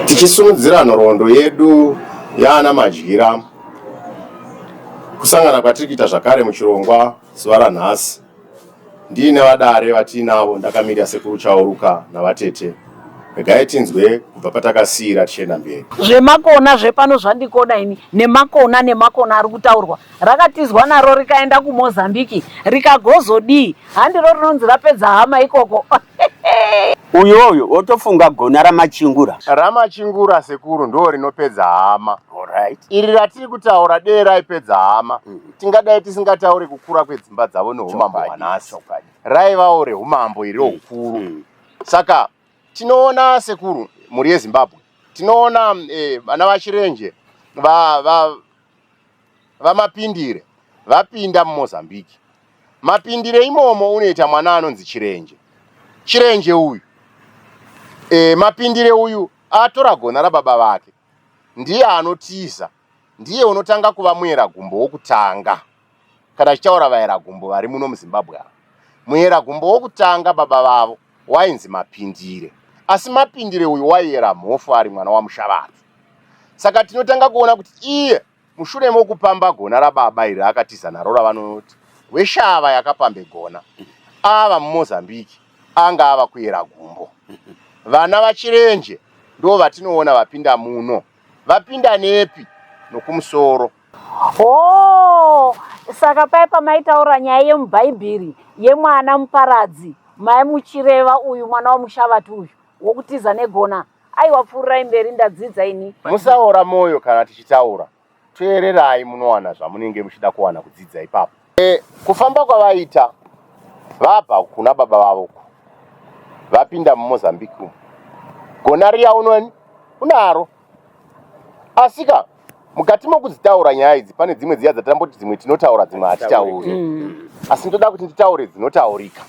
Tichisumudzira nhoroondo yedu yaana Madyira, kusangana kwatiri kuita zvakare muchirongwa zuva ranhasi ndiine vadare vatiinavo ndakamirira Sekuru Chauruka navatete regai tinzwe kubva patakasiira tichienda mberi. Zvemakona zvepano zvandikoda ini nemakona nemakona ari kutaurwa rakatizwa naro rikaenda kumozambiki rikagozodii handiro rinonzi rapedza hama ikoko uyoyo wotofunga gona ramachingura ramachingura sekuru ndo rinopedza hama right. iri ratiri kutaura dee raipedza hama mm -hmm. tingadai tisingatauri kukura kwedzimba dzavo neumambo hwanasi raivawo reumambo iri roukuru mm -hmm. saka tinoona sekuru mhuri yezimbabwe tinoona eh, vana eh, vachirenje va, va, VaMapindire vapinda muMozambique. Mapindire imomo unoita mwana anonzi Chirenje. Chirenje uyu e, Mapindire uyu atora gona rababa vake, ndiye anotiza, ndiye unotanga kuva muera gumbo wokutanga. Kana tichitaura vaera gumbo vari muno muZimbabwe ava, muera gumbo wokutanga baba vavo wainzi Mapindire asi Mapindire uyu waiyera mhofu ari mwana waMushavati. Saka tinotanga kuona kuti iye mushure mokupamba gona rababa iri akatiza naro ravanoti weshava yakapambe gona ava mumozambique anga ava kuyera gumbo vana vachirenje ndo vatinoona vapinda muno vapinda nepi nokumusoro Oh, saka paye pamaitaura nyaya yemubhaibheri yemwana muparadzi maimuchireva uyu mwana wamushavati uyu wokutiza negona aiwa pfuurirai mberi ndadzidza ini musaora mwoyo kana tichitaura teererai munowana zvamunenge muchida kuwana kudzidza ipapo E, kufamba kwavaita vabva kuna baba vavo uku vapinda mumozambique umu gona riya unoni unaro asika mukati mokudzitaura nyaya idzi pane dzimwe dziya dzatamboti dzimwe tinotaura dzimwe hatitauri mm. asi ndoda kuti nditaure dzinotaurika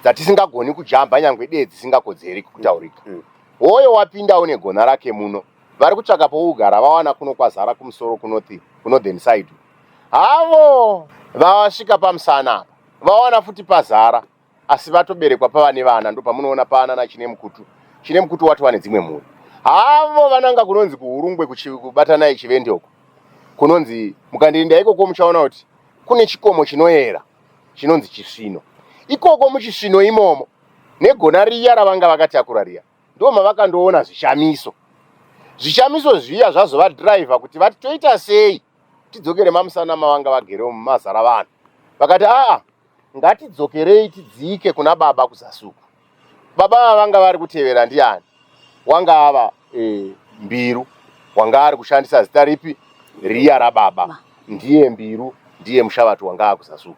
dzatisingagoni kujamba nyange dee dzisingakodzeri kutaurika mm. hoyo wapinda une gona rake muno vari kutsvaka pougara vawana kuno kwazara kumusoro kunothi kuno then side mm. havo vavasvika pamusana apa vawana futi pazara asi vatoberekwa pavane vana ndopamunoona paana nachine mukutu chine mukutu wati wane dzimwe mhuri havo vananga kunonzi kuhurungwe kubatana ichivende uko kunonzi mukandirinda ikoko muchaona kuti kune chikomo chinoyera chinonzi chisvino ikoko muchisvino imomo negona riya ravanga vakatakura riya ndo mavakandoona zvishamiso zvishamiso zviya zvazovadhiraivha kuti vati toita sei tidzokere mamusana mavanga vagere umu mazara vanhu vakati aa ngatidzokerei tidzike kuna baba kuzasuku baba ava vanga vari kutevera ndiani wanga ava e, mbiru wanga ari kushandisa zita ripi riya rababa ndiye mbiru ndiye mushavati wanga akuzasuku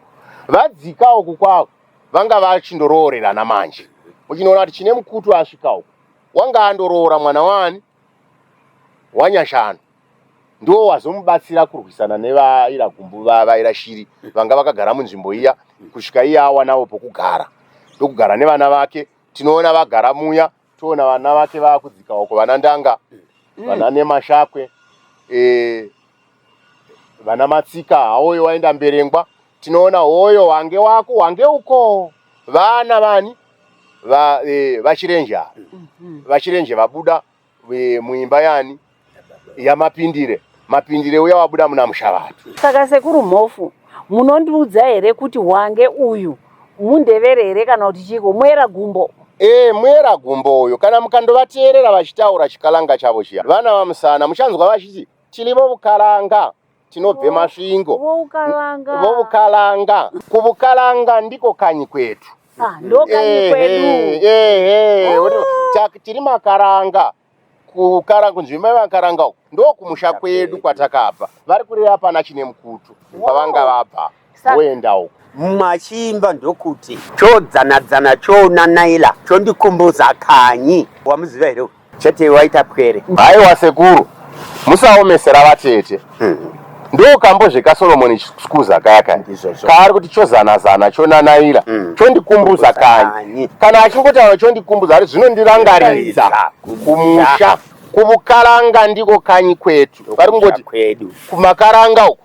vadzikawo kukwavo vanga vachindoroorerana manje muchinoona kuti chine mukutu asvikawo wanga andoroora mwana wani wanyashanu ndiwo wazomubatsira kurwisana nevaira gumbu vaira shiri vanga vakagara munzvimbo iya kusvika iye awanawo pokugara ndokugara nevana vake tinoona vagara muya toona vana vake vakudzika uko vana ndanga mm. vana nemashakwe e, vana matsika haoyo waenda mberengwa tinoona hoyo wange wako wange uko vana vani vachirenje va, e, mm-hmm. vachirenje vabuda eh, muimba yani yamapindire mapindire uya wabuda muna mushavatu saka sekuru mhofu munondiudza here kuti wange uyu mundevere here kana kuti chiko mwera gumbo ee eh, mwera gumbo uyo kana mukandovateerera vachitaura chikalanga chavo chiya vana vamusana muchanzwa vachiti tilivo vukalanga tinobve masvingo vovukalanga kuvukalanga ndiko kanyi kwetu ah, tiri makaranga kukara kunzvimbo yevakaranga uku ndokumusha kwedu kwatakabva vari kureva pana chine mukutu kwavanga vabva wow. woenda uko mumwe achiimba ndokuti chodzanadzana choona naila chondikumbudza kanyi wamuziva here chete waita pwere haiwa sekuru musaomesera vatete hmm. ndokambo zvekasoromoni skuza kaya kaya kaari kuti chozanazana chonanaira hmm. chondikumbudza kanyi kana achingotaura chondikumbudza ari zvinondirangaridza kumusha kuvukaranga ndiko kanyi kwetu vari kungoti kumakaranga uku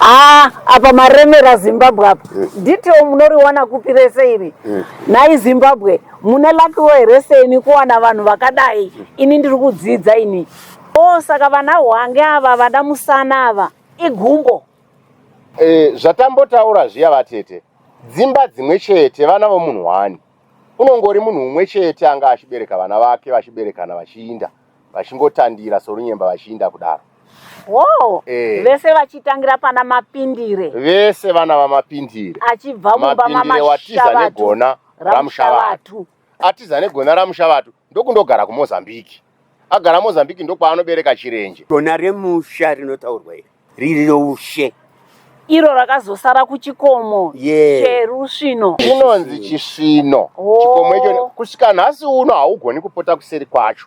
Ah, apa maremera zimbabwe apa mm. detail munoriwana kupi rese iri mm. nhai zimbabwe mune lakiwo here seni kuwana vanhu vakadai mm. ini ndiri kudzidza ini o oh, saka vana hwange ava vada musana ava igumbo E, zvatambotaura zviya vatete, dzimba dzimwe chete, vana vomunhu wani. Unongori munhu umwe chete anga achibereka vana vake vachiberekana vachiinda vachingotandira sorunyemba vachiinda kudaro. Wow. E. Vese vachitangira pana Mapindire. Vese vana vaMapindire. Achibva mumba maMashavatu. Mapindire watiza negona raMushavatu. Atiza negona raMushavatu. ndokundogara kuMozambique. Agara Mozambique ndokwaanobereka Chirenje. Gona remusha rinotaurwa iri riri roushe iro rakazosara kuchikomo yeah. cherusvino inonzi chisvino oh. chikomo icho kusvika nhasi uno haugoni kupota kuseri kwacho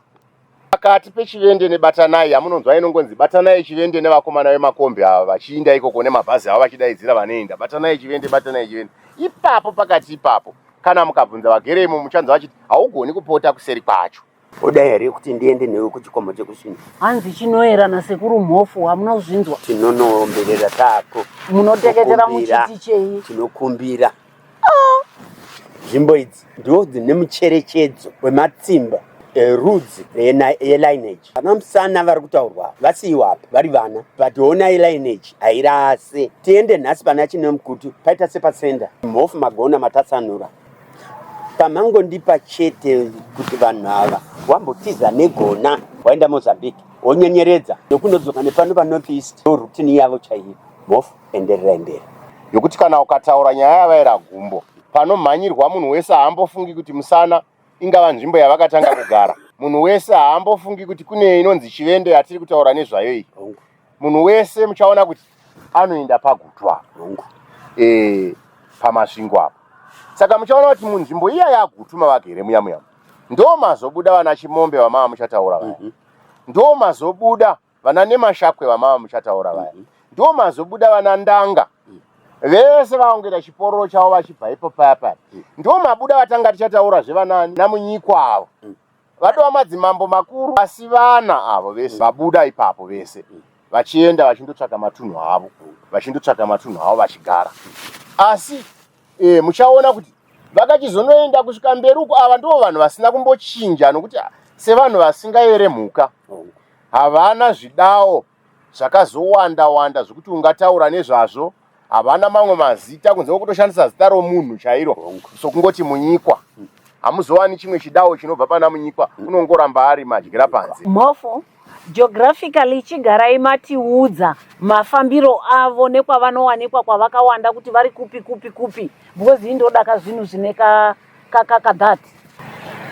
pakati pechivende nebatanai yamunonzwa inongonzi batanai chivende nevakomana vemakombi ava vachiinda ikoko nemabhazi avo vachidaidzira vanoenda batanai chivende batanai chivende ipapo pakati ipapo Kana mukabvunza vagere imo muchanzwa vachiti haugoni kupota kuseri kwacho. Oda here kuti ndiende newe kuchikomo chekusvina? Hanzi chinoerana sekuru Mhofu hamuna kuzvinzwa. Tinonoomberera tako. Munoteketera muchiti chei? Tinokumbira. Ah! Nzvimbo idzi ndiwo dzine mucherechedzo wematsimba Eh, rudzi yelineage ana musana vari kutaurwa vasiiwa apa vari vana but hona yelineage hairase tiende nhasi pana chine mukutu paita sepasenda mhofu magona matatsanura pamangondipa chete kuti vanhu ava wambotiza negona waenda mozambique wonyenyeredza nokunodzoka nepano panorth east ndo rutini yavo chaiyo mhofu enderera mberi yokuti kana ukataura nyaya yavaera gumbo panomhanyirwa munhu wese haambofungi kuti musana ingava nzvimbo yavakatanga kugara munhu wese haambofungi kuti kune inonzi chivende yatiri kutaura nezvayo iyi munhu wese muchaona kuti anoenda pagutwa e, pamasvingo apo saka muchaona kuti munzvimbo iya yagutu mavagere muya muya ndo mazobuda vana chimombe vamava muchataura vaya mm -hmm. ndo mazobuda Vana Nemashakwe vamava muchataura vaya. Mhm. Ndiwo mazobuda vana Ndanga. Mhm. Vese vaongera chipororo chavo vachibva ipo paya paya. Mhm. Ndiwo mabuda vatanga tichataura zvevana namunyikwa avo. Vadova madzimambo makuru asi vana avo vese vabuda ipapo vese. Vachienda vachindotsvaka matunhu avo. Vachindotsvaka matunhu avo vachigara. Asi e, muchaona kuti vakachizonoenda kusvika mberi uko ava ndivo vanhu vasina kumbochinja nokuti sevanhu vasingayere mhuka Havana zvidawo zvakazowanda wanda zvekuti ungataura nezvazvo. Havana mamwe mazita kunze kwekutoshandisa zita romunhu chairo sokungoti Munyikwa. Hamuzowani chimwe chidawo chinobva pana Munyikwa, unongoramba ari madyira panze. Mhofu, Geographically chigarai matiudza mafambiro avo nekwavanowanikwa kwavakawanda kuti vari kupi kupi kupi because ini ndodaka zvinhu zvine ka kakaka that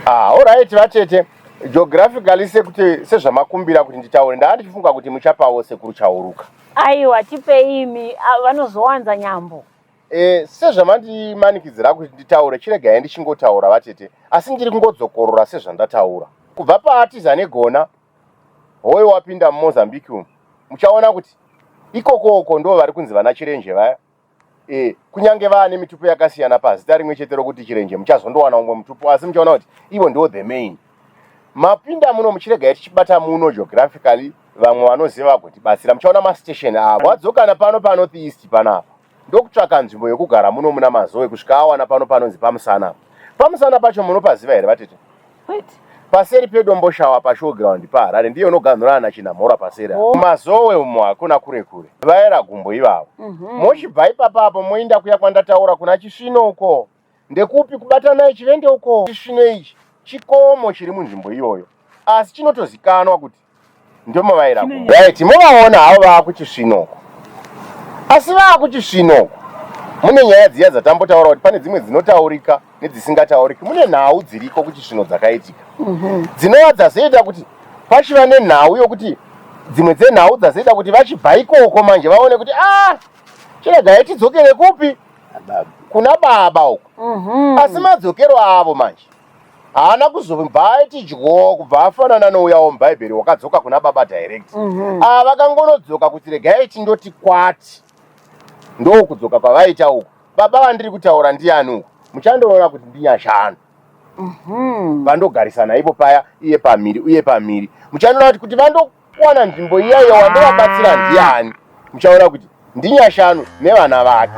ah all right vatete geographically sekuti sezvamakumbira kuti nditaure ndanga ndichifunga kuti muchapawo sekuru chauruka aiwa tipei imi ah, vanozowanza nyambo e, sezvamandimanikidzira kuti nditaure chiregai ndichingotaura vatete asi ndiri kungodzokorora sezvandataura kubva paatiza negona hoyo wapinda mumozambique umu muchaona kuti ikokoko ndo vari kunzi vana chirenje vaya e, kunyange vaane mitupo yakasiyana pazita rimwe chete rokuti chirenje muchazondowana umwe mutupo asi muchaona kuti ivo ndiwo the main mapinda muno muchirega tichibata muno geographically vamwe vanoziva vagotibatsira muchaona mastation avo wadzokana pano panorth east panapa ndokutsvaka nzvimbo yokugara muno muna mazoe kusvika awana pano panonzi pamusana pamusana pacho munopaziva here vatete paseri pedomboshawa pashowground paharare ndiyo unoganhura ana chinamhora paseri oh. kumazowe umo hakuna kure kure vaera gumbo ivavo mm -hmm. mochibva ipapa apo moinda kuya kwandataura kuna chisvino uko ndekupi kubatanai chivende uko chisvino ichi chikomo chiri munzvimbo iyoyo asi chinotozikanwa kuti ndomovaira right movaona havo vava kuchisvinoko asi vava kuchisvinoko mune nyaya dziya dzatambotaura kuti pane dzimwe dzinotaurika nedzisingatauriki mune nhau dziriko kuchisvino dzakaitika mhm. dzinova dzazoita kuti pachiva nenhau yokuti dzimwe dzenhau dzazoita kuti vachibva ikoko manje vaone kuti a ah, chirega itidzokere kupi kuna baba uko mhm. asi madzokero avo manje haana kuzobva aiti dyo kubva afanana nouya womubhaibheri wakadzoka kuna baba direct Mhm. ava vakangonodzoka kuti regai tindoti kwati ndokudzoka kwavaita uku baba vandiri kutaura ndiani uku muchandoona kuti ndinyashanu Mhm. vandogarisana ipo paya iye pamhiri uye pamhiri muchandoona kuti kuti vando kuwana nzvimbo iya iya wandovabatsira ndiani muchaona kuti ndinyashanu nevana vake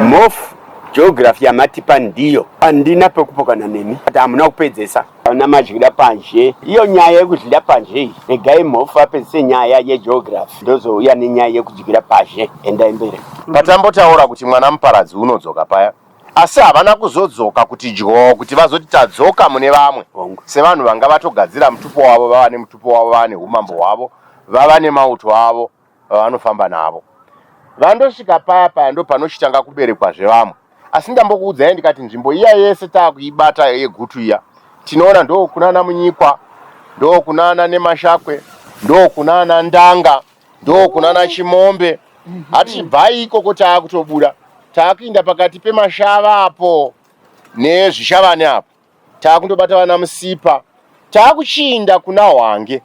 mof geography yamatipa ndiyo andina pekupokana nemi ati hamuna kupedzesa ana mazvida panzhe iyo nyaya yekuzvida panzhe iyi regai mhofu apedzise nyaya yegeography ndozouya nenyaya yekudyira pazhe endai mberi patambotaura kuti mwana muparadzi unodzoka paya Asi havana kuzodzoka kuti dyoo kuti vazoti tadzoka mune vamwe sevanhu vanga vatogadzira mutupo wavo vava nemutupo wavo vava nehumambo hwavo vava nemauto avo vavanofamba navo. Vandosvika paya paya ndopanochitanga kuberekwa zvevamwe asi ndambokuudzai ndikati nzvimbo iya yese takuibata yegutu iya tinoona ndookunana Munyikwa ndookunana Nemashakwe ndookunana Ndanga ndokunana Chimombe ati bvai ikoko taakutobuda taakuinda pakati pemashava apo nezvishavane apo taakundobata vana Musipa taakuchiinda kuna Hwange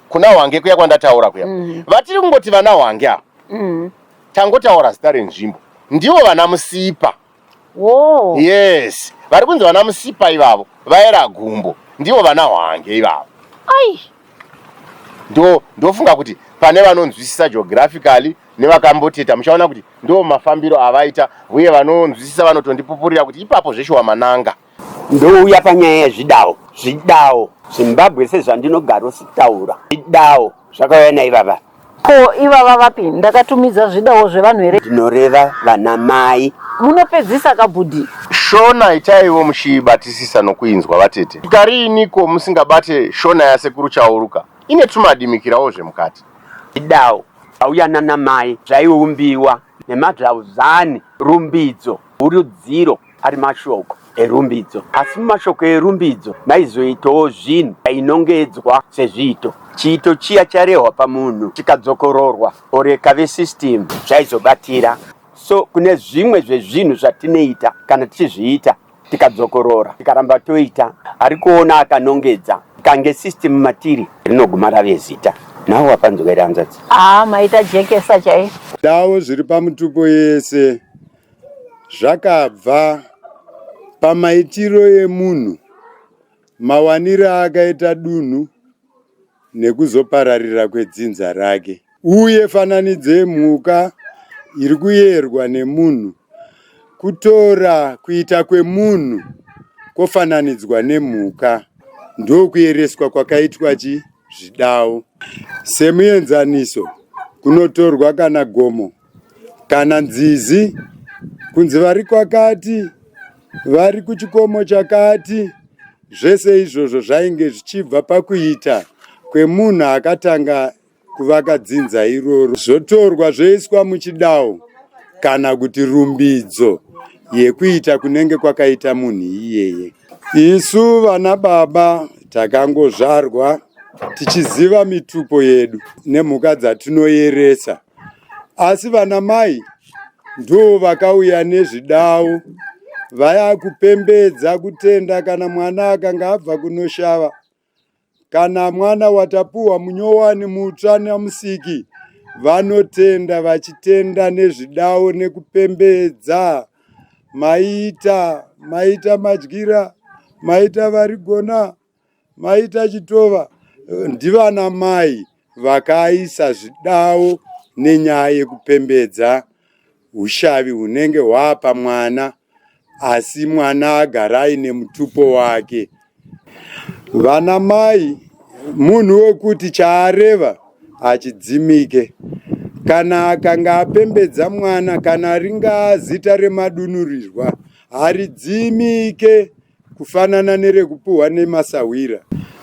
kuna Hwange kuya kwandataura kuya mm. vatiri kungoti vana Hwange apo mm. tangotaura zita renzvimbo ndivo vana Musipa Woo. Yes. Vari kunzi vana musipa ivavo vaera gumbo ndivo vana hwange ivavo. Ai. Ndo ndofunga kuti pane vanonzwisisa geographically nevakamboteta muchaona kuti ndo mafambiro avaita uye vanonzwisisa vanotondipupurira kuti ipapo zveshuwa mananga. Ndouya panyaya yezvidawo zvidawo Zimbabwe sezvandinogaro sitaura zvidawo zvakauya naivava ko ivava vapi ndakatumidza zvidawo zvevanhu here ndinoreva vana mai munopedzisa kabhudhi Shona itaiwo muchiibatisisa nokuinzwa vatete. Shuka riiniko musingabate Shona yasekuru Chauruka ine tumadimikirawo zvemukati. Zvidawo zvauya nana mai zvaiumbiwa nemadzvauzani, rumbidzo, hurudziro. ari mashoko erumbidzo asi mumashoko erumbidzo maizoitawo zvinhu ainongedzwa sezviito chiito chiya charehwa pamunhu chikadzokororwa oreka vesystem zvaizobatira so kune zvimwe zvezvinhu zvatinoita kana tichizviita tikadzokorora tikaramba toita ari kuona akanongedza kange system matiri rinoguma rave zita nawo wapanzwa iri hanzvadzi aa ah, maita jekesa chai dawo zviri pamutupo yese zvakabva pamaitiro emunhu, mawanire aakaita dunhu nekuzopararira kwedzinza rake. Uye fananidzo yemhuka iri kuyerwa nemunhu, kutora kuita kwemunhu kwofananidzwa nemhuka ndokuyereswa kwakaitwa chi zvidawo. Semuenzaniso, kunotorwa kana gomo kana nzizi kunzi vari kwakati vari kuchikomo chakati zvese izvozvo zvainge zvichibva pakuita kwemunhu akatanga kuvaka dzinza iroro zvotorwa zvoiswa muchidawo kana kuti rumbidzo yekuita kunenge kwakaita munhu iyeye Isu vana baba takangozvarwa tichiziva mitupo yedu nemhuka dzatinoyeresa, asi vana mai ndo vakauya nezvidawo vaya kupembedza kutenda kana mwana akanga abva kunoshava kana mwana watapuhwa munyowani mutsva namusiki vanotenda vachitenda nezvidawo nekupembedza maita maita madyira maita varigona maita chitova ndivana mai vakaisa zvidawo nenyaya yekupembedza ushavi hunenge hwapa mwana asi mwana agara aine mutupo wake vana mai munhu wekuti chaareva hachidzimike kana akanga apembedza mwana kana ringaa zita remadunurirwa haridzimike kufanana nerekupuhwa nemasahwira.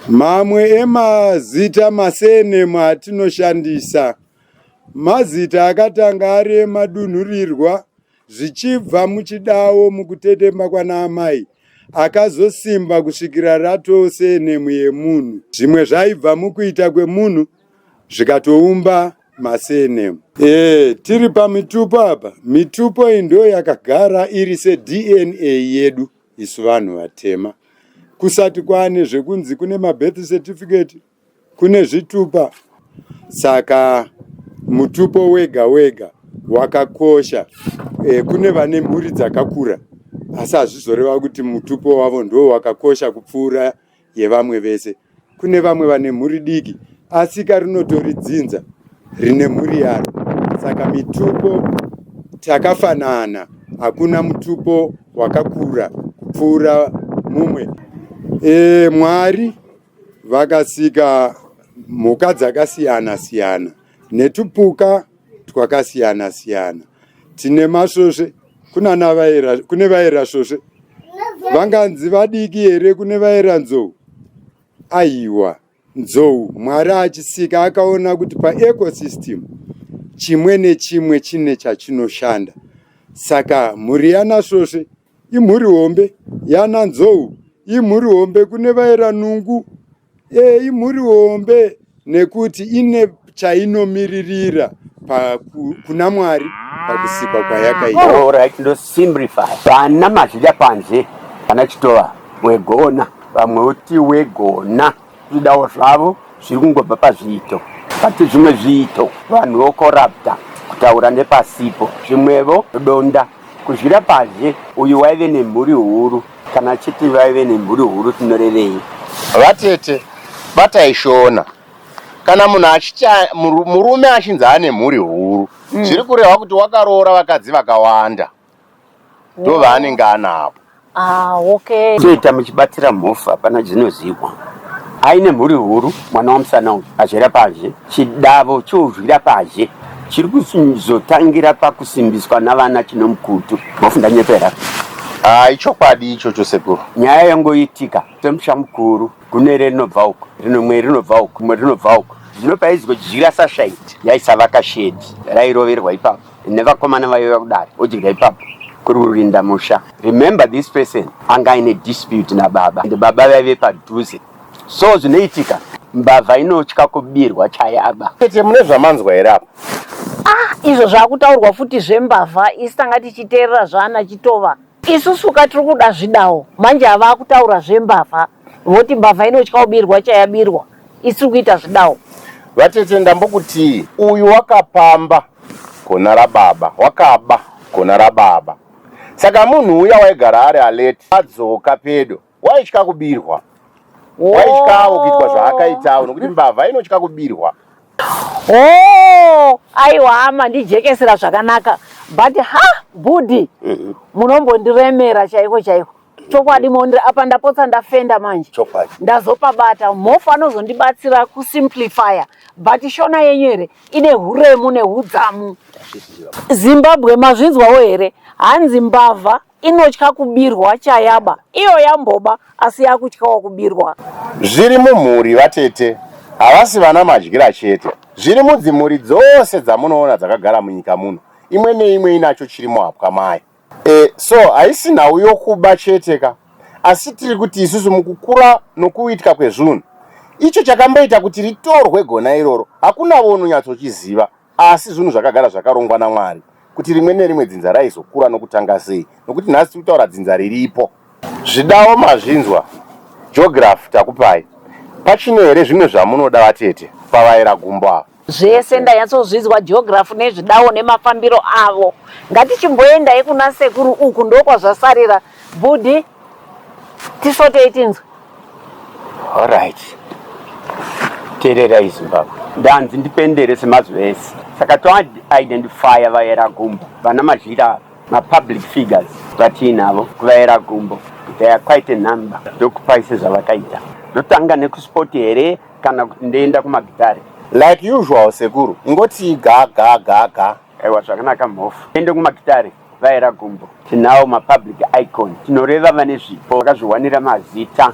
Mamwe emazita masenemu atinoshandisa mazita akatanga ari emadunhurirwa zvichibva muchidawo mukutetemba kwana amai akazosimba kusvikira ratoo senemu yemunhu. Zvimwe zvaibva mukuita kwemunhu zvikatoumba masenemu. E, tiri pamitupo apa, mitupo iyi ndo yakagara iri seDNA yedu. isu vanhu vatema kusati kwane zvekunzi kune mabirth certificate kune zvitupa saka mutupo wega wega wakakosha e, kune vane mhuri dzakakura asi hazvizoreva kuti mutupo wavo ndo wakakosha kupfuura yevamwe vese. Kune vamwe vane mhuri diki asika rinotori dzinza rine mhuri yaro. Saka mitupo takafanana, hakuna mutupo wakakura kupfuura mumwe. E, Mwari vakasika mhuka dzakasiyana siyana netupuka twakasiyana siyana tine masvosve kunana vaera kune vaera svosve vanganzi vadiki here kune vaera nzou aiwa nzou mwari achisika akaona kuti paecosystem chimwe nechimwe chine chachinoshanda saka mhuri yanasvosve imhuri hombe yananzou imhuri hombe kune vaera nungu Eyi mhuri hombe nekuti ine chainomiririra kuna Mwari pakusikwa kwayakaita. Oh, right, ndo simplify. Vana mazhidya panze kana chitova wegona vamwe uti wegona zvidawo zvavo zviri kungobva pazviito pati zvimwe zviito vanhu vokorapta kutaura nepasipo zvimwevo donda Kudyira padye uyu waive nemhuri huru kana chete vaive nemhuri huru tinorevei. Vatete batai shona kana munhu achiti murume achinzi ane mhuri huru mm. zviri kurehwa kuti wakaroora vakadzi vakawanda ndovanenge anavo Ah, okay. Toita muchibatsira mhofu hapana dzinozihwa. Aine mhuri huru mwana wamusana uyu azvera pazhe chidavo chouzvira pazhe chiri kuzotangira pakusimbiswa navana chinomukutu mhofu ndanyepera. Ah, ichokwadi ichocho sekuru. Nyaya yangoitika semusha mukuru gunere rinobva uko rinomwe rinobva uko rimwe rinobva uko zvinopa izigodyira sashaiti yaisavaka shedi rairoverwa ipapo nevakomana vaiva kudare odya ipapo kuri kurinda musha remember this person anga aine dispute nababa and baba vaive padhuze so zvinoitika mbavha inotya kubirwa chayaba tete mune zvamanzwa here apa ah izvo zvakutaurwa futi zvembavha isi tanga tichiteerera zvaana chitova isusu ka tiri kuda zvidawo manje avakutaura zvembavha Voti mbavha inotya kubirwa chayabirwa isiri kuita zvidawo. Vatete ndambokutii uyu wakapamba gona rababa wakaba gona rababa saka munhu uya waigara ari alert adzoka pedo waitya kubirwa waityawo kuitwa zvaakaitawo nokuti mbavha inotya kubirwa. Hoo aiwa hama ndijekesera zvakanaka but ha bhudhi munombondiremera chaiko chaiko. chokwadi mondira apa ndapotsa ndafenda manje chokwadi ndazopabata mhofu anozondibatsira kusimplifya but shona yenyu here ine huremu neudzamu zimbabwe mazvinzwawo here hanzi mbavha inotya kubirwa chayaba iyo yamboba asi yakutyawo kubirwa zviri mumhuri vatete havasi vana madyira chete zviri mudzimhuri dzose dzamunoona dzakagara munyika muno imwe neimwe inacho chiri muhapwa mayo E, so haisi nhau yokuba chete ka asi tiri kuti isusu mukukura nokuitwa kwezvunhu icho chakamboita kuti ritorwe gona iroro hakunavo unonyatsochiziva asi zvinhu zvakagara zvakarongwa namwari kuti rimwe nerimwe dzinza raizokura nokutanga sei nokuti nhasi tiri kutaura dzinza riripo Zvidawo mazvinzwa geography takupai pachine here zvimwe zvamunoda vatete pavaera gumbo ava. Zvese ndanyatsozvinzwa geography nezvidawo nemafambiro avo. Ngatichimboendai kuna sekuru uku ndokwazvasarira bhudhi tisvotei tinzwe. Alright. Tererai Zimbabwe. Ndanzi ndipendere semazuva ese. Saka to identifyer vaera gumbo vana mazhira ava. mapublic figures vatiinavo kuvaera gumbo they are quite a number ndokupai sezvavakaita ndotanga nekusport here kana kuti ndoenda kumagitare like usual sekuru ingoti ga ga ga ga aiwa zvakanaka mhofu ende kumagitare vaera gumbo tinawo mapublic icon tinoreva vane zvipo vakazviwanira mazita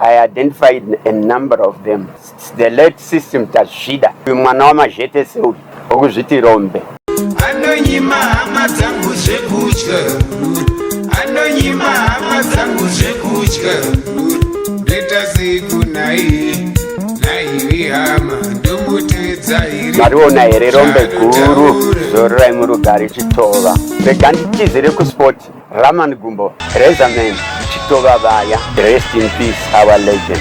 I identified a number of them. It's the late system Tazvida. Mwana wamazhete seuri okuzviti rombe. Anonyima hama dzangu zvekudya. Anonyima hama dzangu zvekudya. Ndeta siku nai naivi hama ndomutedza iri. Mariona here rombe guru zororai murugari chitova. Rega nditizire kuspoti. Raman Gumbo, Razorman, Chitova Vaya, rest in peace our legend.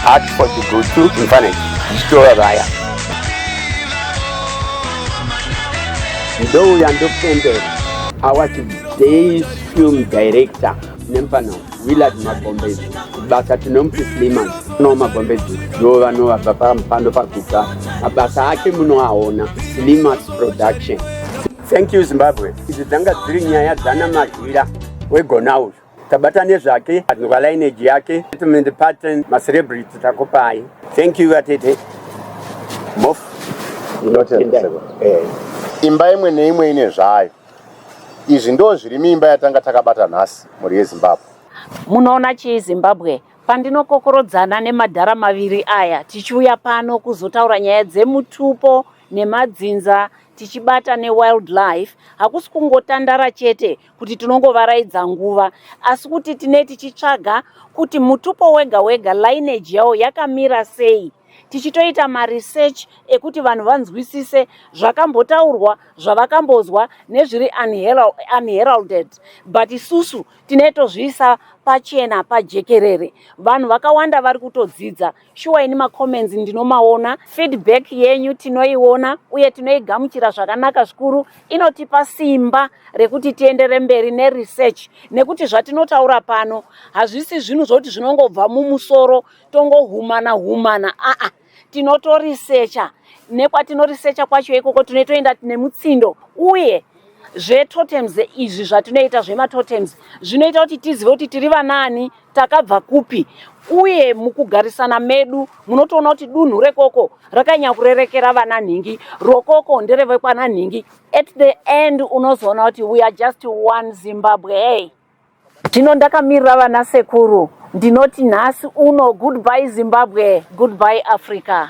Art for the good to Mfaneki, Chitova Vaya. Ndouya ndopembera our today's film director nemufana willard magombezi basa tinomuti sliman no magombezi ndo vanovabva pamupando pakubva mabasa ake munoaona slimas production thank you zimbabwe idzi dzanga dziri nyaya dzana mazhira wegona uyu tabata nezvake anova lineage yake settlement pattern macelebrity takupai thank you vatete mof eh. imba imwe neimwe ine zvayo Izvi ndoo zviri miimba yatanga takabata nhasi mhuri yeZimbabwe. Munoona chii Zimbabwe? Pandinokokorodzana nemadhara maviri aya tichiuya pano kuzotaura nyaya dzemutupo nemadzinza tichibata newildlife hakusi kungotandara chete kuti tinongovaraidza nguva asi kuti tine tichitsvaga kuti mutupo wega wega lineage yawo yakamira sei tichitoita maresearch ekuti vanhu vanzwisise zvakambotaurwa zvavakambozwa nezviri unheralded but isusu tine tozviisa pachena pajekerere vanhu vakawanda vari kutodzidza shuwa ini macomments ndinomaona feedback yenyu tinoiona uye tinoigamuchira zvakanaka zvikuru inotipa simba rekuti tiendere mberi neresearch nekuti zvatinotaura pano hazvisi zvinhu zvokuti zvinongobva mumusoro tongohumana humana aa tinotorisecha nekwatinoresecha kwacho ikoko tinotoenda nemutsindo uye zvetotems izvi zvatinoita zvematotems zvinoita kuti tizive kuti tiri vanaani takabva kupi uye mukugarisana medu munotoona kuti dunhu rekoko rakanyanya kurerekera vana nhingi rokoko nderevekwana nhingi at the end unozoona kuti we are just one zimbabwe hey. Zvino ndakamirira vana sekuru ndinoti nhasi uno goodbye Zimbabwe goodbye Africa.